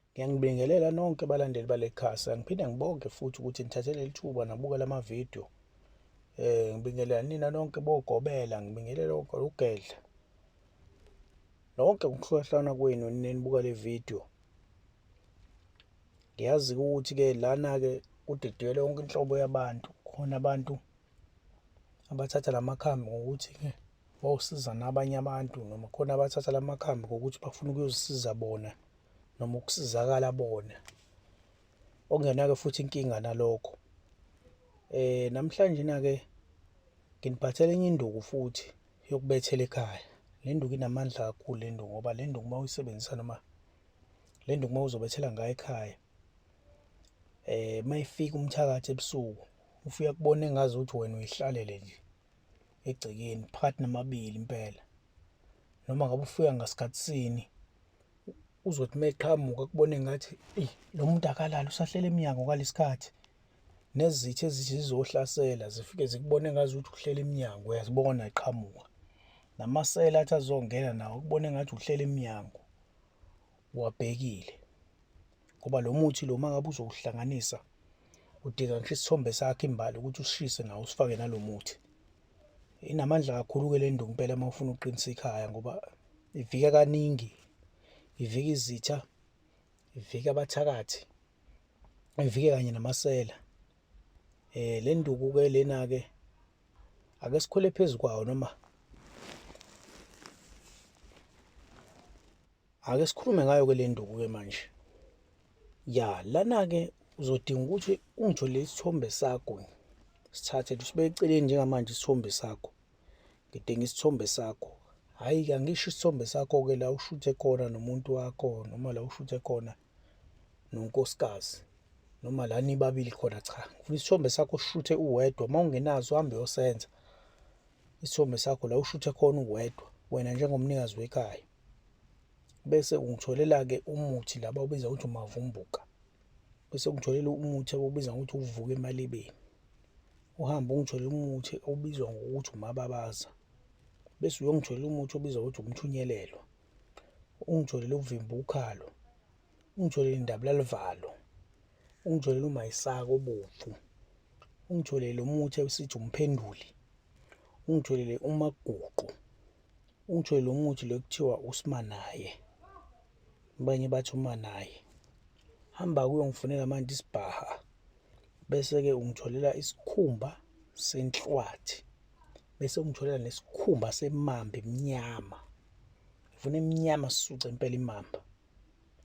Ngiyanibingelela nonke abalandeli bale khasa. Ngiphinde ngibonge futhi ukuthi nithathe leli thuba nabuka lama video. Eh ngibingelela nina nonke bogobela, ngibingelela ugedla. Nonke ukuhlohlana kwenu nenibuka le video. Ngiyazi ukuthi ke lana ke kudidiyelwe yonke inhlobo yabantu. Khona abantu abathatha la makhambi ngokuthi-ke bawusiza nabanye abantu noma khona abathatha la makhambi ngokuthi bafuna ukuyozisiza bona noma ukusizakala bona okungenake futhi inkinga nalokho eh namhlanje na-ke nginiphathela enye induku futhi yokubethela ekhaya le nduku inamandla kakhulu le nduku ngoba le nduku uma uyisebenzisa noma le nduku uma uzobethela ngayo ekhaya eh mayifika umthakathi ebusuku ufe uyakubona engazi ukuthi wena uyihlalele nje egcekeni phakathi namabili impela noma ngabe ufika ngasikhathi sini uzothi uma eqhamuka kubone ngathi eyi lo muntu akalali usahlele emnyango ngalesikhathi nezitha ezithi zizohlasela zifike zikubone ngazi ukuthi uhlele emnyango uyazibona eqhamuka namasela athi azongena nawo kubone ngathi uhlele emnyango uwabhekile ngoba lo muthi lo mangabe uzowuhlanganisa udinga ngisho isithombe sakhe imbali ukuthi usishise nawo usifake nalo muthi inamandla kakhulu-ke le nto ngempela uma ufuna ukuqinisa ikhaya ngoba ivika kaningi ivika izitha ivika abathakathi ivike kanye namasela eh le nduku ke lena ke ake sikhole phezulu kwawo noma Ake sikhulume ngayo ke le nduku ke manje. Ya, lana ke uzodinga ukuthi ungijolele isithombe sakho. Sithathe sibeke eceleni njengamanje isithombe sakho. Ngidinga isithombe sakho. Hayi ke angisho isithombe sakho ke la ushuthe khona nomuntu wakho noma la ushuthe khona nonkosikazi noma la nibabili khona cha. Ngifuna isithombe sakho ushuthe uwedwa uma ungenazo uhambe yosenza. Isithombe sakho la ushuthe khona uwedwa wena njengomnikazi wekhaya. bese ungitholela-ke umuthi laba obiza ukuthi umavumbuka bese ungitholela umuthi obiza ngokuthi uvuka emalibeni uhambe ungitholela umuthi obizwa ngokuthi umababaza bese uyongitholela umuthi obizwa ngokuthi umthunyelelwa ungitholele ukuvimba ukhalo ungitholele indabulalivalo ungitholele umayisaka obomvu ungitholele umuthi esithi umphenduli ungitholele umaguqu Ungitshele lo muthi lo kuthiwa usimanaye abanye bathi umanaye hamba kuyongifunela manje isibhaha bese-ke ungitholela isikhumba senhlwathi bese ungitholela nesikhumba semamba emnyama ngifuna emnyama sisuce impela imamba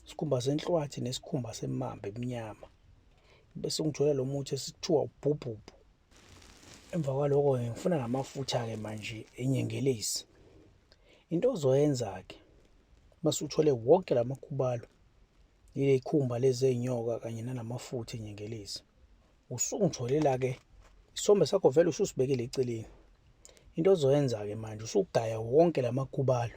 isikhumba senhlwathi nesikhumba semamba emnyama bese ngithola lo muthi esithiwa ubhubhubhu emva kwaloko-ke ngifuna namafutha-ke manje enyengelezi into ozoyenza-ke mase uthole wonke la makhubalo yile khumba lezi ey'nyoka kanye nanamafutha enyengelezi usungitholela-ke isombe sakho vele ususibekile eceleni into ozoyenza-ke manje usugaya wonke la makhubalo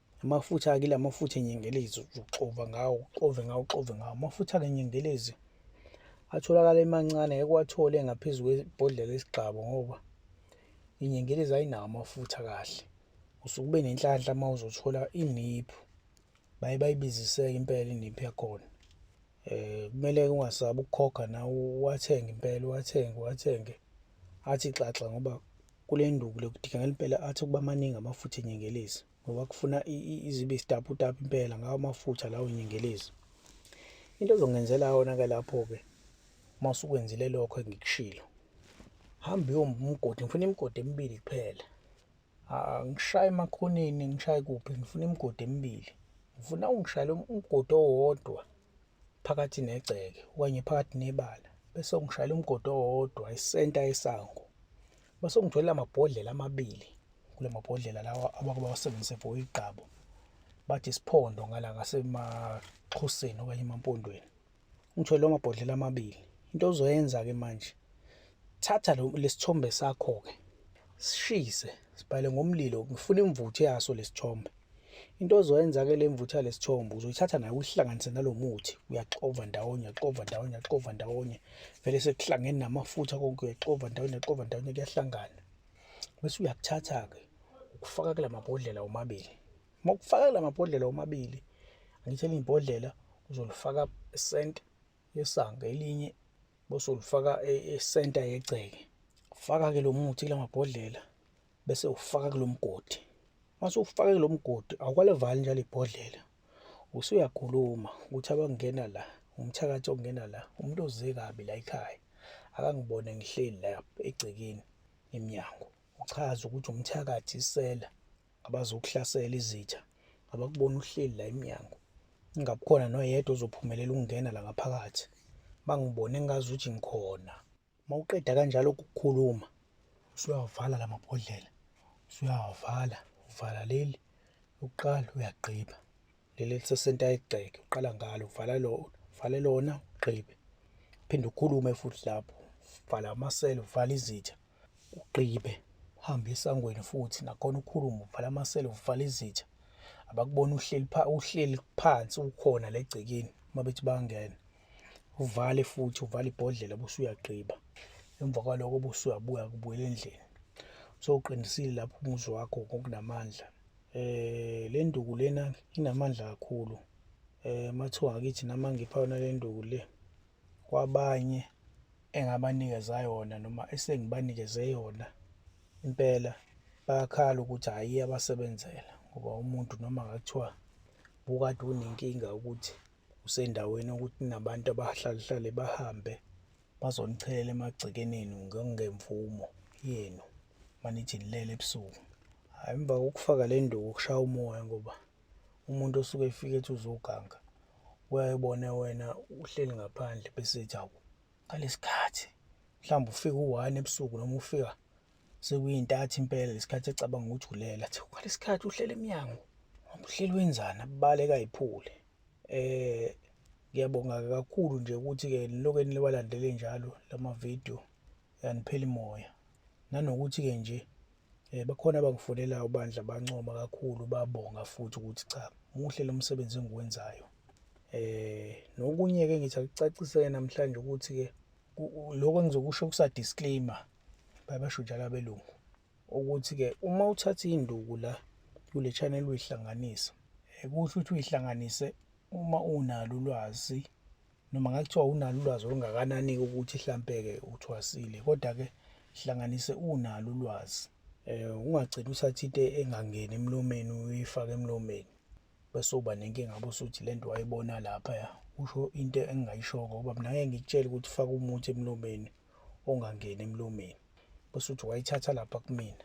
Amafutha akile amafutha enyengelezi uxova ngawo uxove ngawo uxove ngawo amafutha ke nyengelezi atholakala emancane ngeke wathole ngaphezulu kwebhodlela esigcabo ngoba inyengelezi ayinawo amafutha kahle usuke ube nenhlanhla uma uzothola iniphu baye bayibiziseke impela iniphu yakhona eh kumele ungasabi ukukhokha nawe wathenge impela wathenge wathenge athi xaxa ngoba kule nduku lokudika ngempela athi ukuba maningi amafutha enyengelezi ngoba kufuna izibe isitaputapu impela ngawo amafutha lawo nyengelezi into ezongenzela yona-ke lapho-ke uma usukwenzile lokho engikushilo hambe uyomgodi ngifuna imigodi emibili kuphela angishaye emakhoneni ngishaye kuphi ngifuna imigodi emibili ngifuna ungishayele umgodi owodwa phakathi negceke okanye phakathi nebala bese ngishayela umgodi owodwa isenta yesango base ngithwele amabhodlela amabili kule mabhodlela lawa abake bawasebenzise for igqabo bathi isiphondo ngala ngasemaxhoseni okanye emampondweni ngithwele lawo mabhodlela amabili into ozoyenza-ke manje thatha lesithombe sakho-ke sishise sibhale ngomlilo ngifuna imvuthu yaso lesithombe Into ozoyenza ke le mvuthu yale sithombo uzoyithatha nayo uyihlanganise nalo muthi, uyaxova ndawonye, uyaxova ndawonye, uyaxova ndawonye. Vele sekuhlangene namafutha konke uyaxova ndawonye, uyaxova ndawonye kuyahlangana. Bese uyakuthatha-ke ukufaka kula mabhodlela omabili. Uma ukufaka kula mabhodlela omabili, angithi elinye ibhodlela uzolifaka esenta yesanga, elinye bese ulifaka esenta yegceke. Faka-ke lo muthi kula mabhodlela bese ufaka kulomgodi mase ufake kulomgodi awukalevali njalo ibhodlela usuyakhuluma ukuthi abangena la umthakathi ongena la umuntu oze kabi la ekhaya akangibone ngihleli la egcekeni emnyango uchaza ukuthi umthakathi isela abazokuhlasela izitha abakubona uhleli la emnyango ingabukhona noyedwa ozophumelela ukungena la ngaphakathi bangibone ngazi ukuthi ngikhona Mawuqeda kanjalo ukukhuluma usuyawavala lamabhodlela usuyawavala uvala leli lokuqala uyagqiba leli elisesenta egceke uqala ngalo uvala lona uvale lona ugqibe phinde ukhulume futhi lapho uvala amasela uvala izitha ugqibe uhambe esangweni futhi nakhona ukhulume uvala amasela uvala izitha abakubona uhleli pha uhleli phansi ukhona legcekeni uma bethi bangena uvale futhi uvale ibhodlela bese uyagqiba emva kwaloko bese uyabuya kubuyela endlini so uqinisile lapho umuzi wakho ngokunamandla eh le nduku lena inamandla kakhulu eh mathiwa ngakithi nama ngipha yona le nduku le kwabanye engabanikeza yona noma esengibanikeze yona impela bayakhala ukuthi hhayi abasebenzela ngoba umuntu noma ngathiwa bukade unenkinga ukuthi usendaweni yokuthi nabantu abahlalehlale bahambe bazonichelela emagcikeneni ngemvumo yenu manithi nilele ebusuku hhayi emva kokufaka le nduku ukushaya umoya ngoba umuntu osuke efike ethi uzoganga uyayibona wena uhleli ngaphandle bese ethi awu ngalesi khathi mhlawumbe ufika u-one ebusuku noma ufika sekuyintathi impela lesikhathi ecabanga ukuthi ulela athi kwalesikhathi uhlela emnyango uhleli wenzani abaleka iphule eh ngiyabonga kakhulu nje ukuthi ke lokho eniwalandele njalo lama video yaniphela imoya nanokuthi ke nje eh bakhona abangifonelayo ubandla bancoma kakhulu babonga futhi ukuthi cha muhle lo msebenzi engiwenzayo eh nokunye ke ngithi akucacise namhlanje ukuthi ke lokho engizokusho kusa disclaimer bayabasho njalo abelungu ukuthi-ke uma uthatha induku la kule channel uyihlanganisa eh, kusho ukuthi uyihlanganise uma unalo ulwazi noma ngakuthiwa unalo ulwazi olungakanani ukuthi mhlampe-ke uthwasile kodwa-ke hlanganise unalo ulwazi um ungagcini uthatha into engangeni emlomeni uyifake emlomeni bese uba nenkinga bosuthi le nto wayibona laphaya usho into engingayishoko ngoba mina ngeke ngikutshele ukuthi faka umuthi emlomeni ongangeni emlomeni bese uthi wayithatha lapha kumina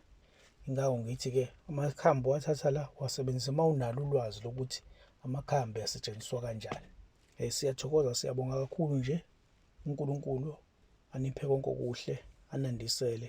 ingako ngithi-ke amakhambi wathatha la wasebenzisa uma unalo ulwazi lokuthi amakhambi asetshenziswa kanjani um siyathokoza siyabonga kakhulu nje unkulunkulu aniphe konke okuhle anandisele